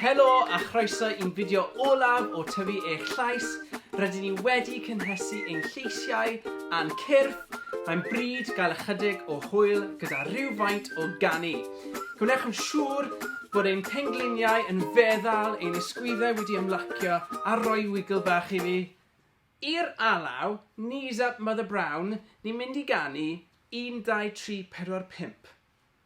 Helo a chroeso i'n fideo olaf o Tyfu Eich Llais. Rydyn ni wedi cynhesu ein lleisiau a'n cyrff. Mae'n bryd gael ychydig o hwyl gyda rhywfaint o ganu. Gwnewch yn siŵr bod ein pengliniau yn feddal, ein ysgwyddau wedi ymlacio a rhoi wigl bach i fi. I'r alaw, knees up Mother Brown, ni'n mynd i ganu, un, dau, tri, pedwar, pump.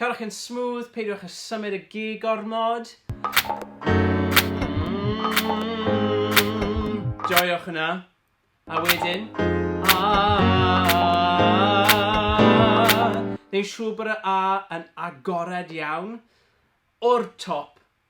Cerwch yn smooth, peidiwch â symud y gig gormod. Joiwch hwnna. A wedyn... Neu'n siŵr bod y A yn agored iawn. O'r top,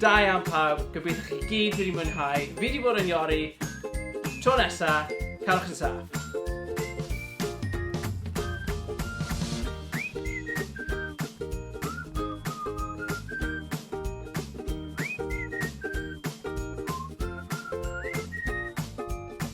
Da iawn pawb, gobeithio chi gyd wedi mwynhau, fi wedi bod yn Iori, tro nesa, cerwch yn saff.